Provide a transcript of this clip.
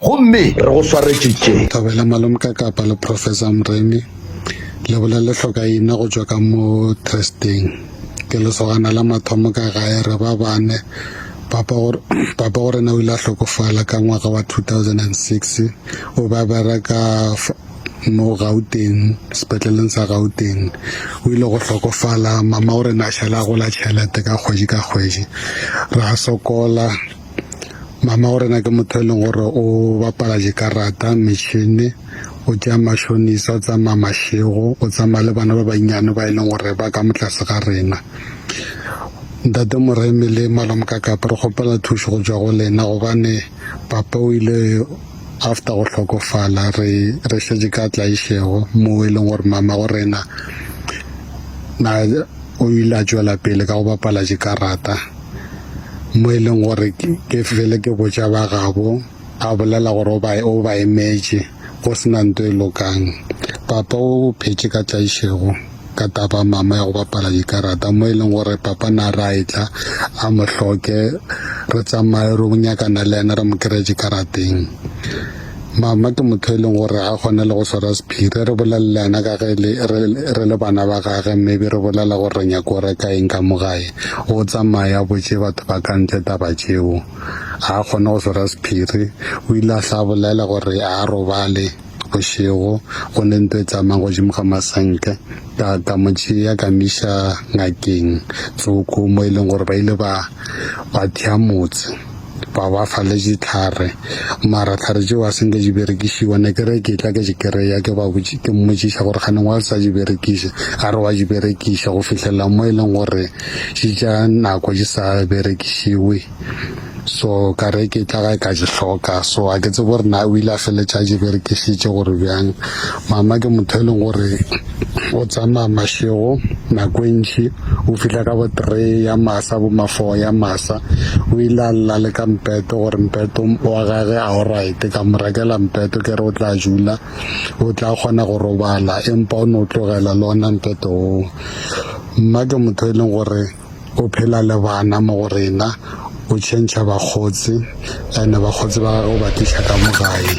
Gomme re go swaretše tše. Thobela Malomkakapa le Professor Mremi le bolele hlokaina go tšwa ka mo Trusteng. Ke lesogana la mathomo ka gae, re ba bane. Papa go, Papa go rena o ile a hlokofala ka ngwaga wa 2006. O be a bereka mo Gauteng, sepetleleng sa Gauteng. O ile go hlokofala, Mama go rena a šala a gola tšhelete ka kgwedi ka kgwedi. Ra sokola. Mama wa rena ke motho e leng gore o bapala dikarata, metšhini, o tšea matšhonisa, o tsamaya mašego, o tsamaya le bana ba bannyane ba e leng gore ba ka mo tlase ga rena. Ntate Moremi le Malome ka Kapa re kgopela thušo go tšwa go lena gobane papa o ile after go hlokofala re re šetše ka tla išego moo e leng gore mama go rena na o ile a tšwela pele ka go bapala dikarata. mo e leng gore ke fele ke botša ba gabo a bolela gore o ba o ba emetše go sena nto e lokang papa o phetše ka tlaišego ka taba mama ya go bapala dikarata mo e leng gore papa na ra e tla a mo hloke re tsamaye ro nyakana le yena re mo kry-e dikarateng Mama ke motho e leng gore a kgona le go swara sephiri re bolelelana ka ge le re le bana ba gage mme be re bolela gore re nyako go reka eng ka mogae o tsamaya botse batho ba ka ntle taba tšeo a kgone go swara sephiri o ile a hla bolela gore a robale bošego go ne nto e tsamayang godimo ga masenke ka ka mo tšea ka miša ngakeng tsoko mo e leng gore ba ile ba ba thea motse ba ba fa le ditlhare mara tlhare tšeo a senke di berekišiwa ne ke re ke tla ke di kry-a ke ba ke mmotšiša gore kganeng wa sa di berekise a re wa di berekiša go fitlhelela mo e leng gore di ja nako di sa berekišiwe so ka re ke tla ka di hloka so a ke tsebe gore na o ile a feletša a di berekisitše gore bjang mama ke motho e leng gore O tsamaya mašego nako e ntši, o fihla ka bo three ya masa, bo ma four ya masa. O ile a lla le ka mpeto gore mpeto wa gage a o right-e, ka mo rekela mpeto ke re o tla jula, o tla kgona go robala empa o no tlogela le ona mpeto oo. Mma ke motho e leng gore o phela le bana mo go rena, o change-a bakgotsi ene bakgotsi ba gagwe o ba tliša ka mo gae.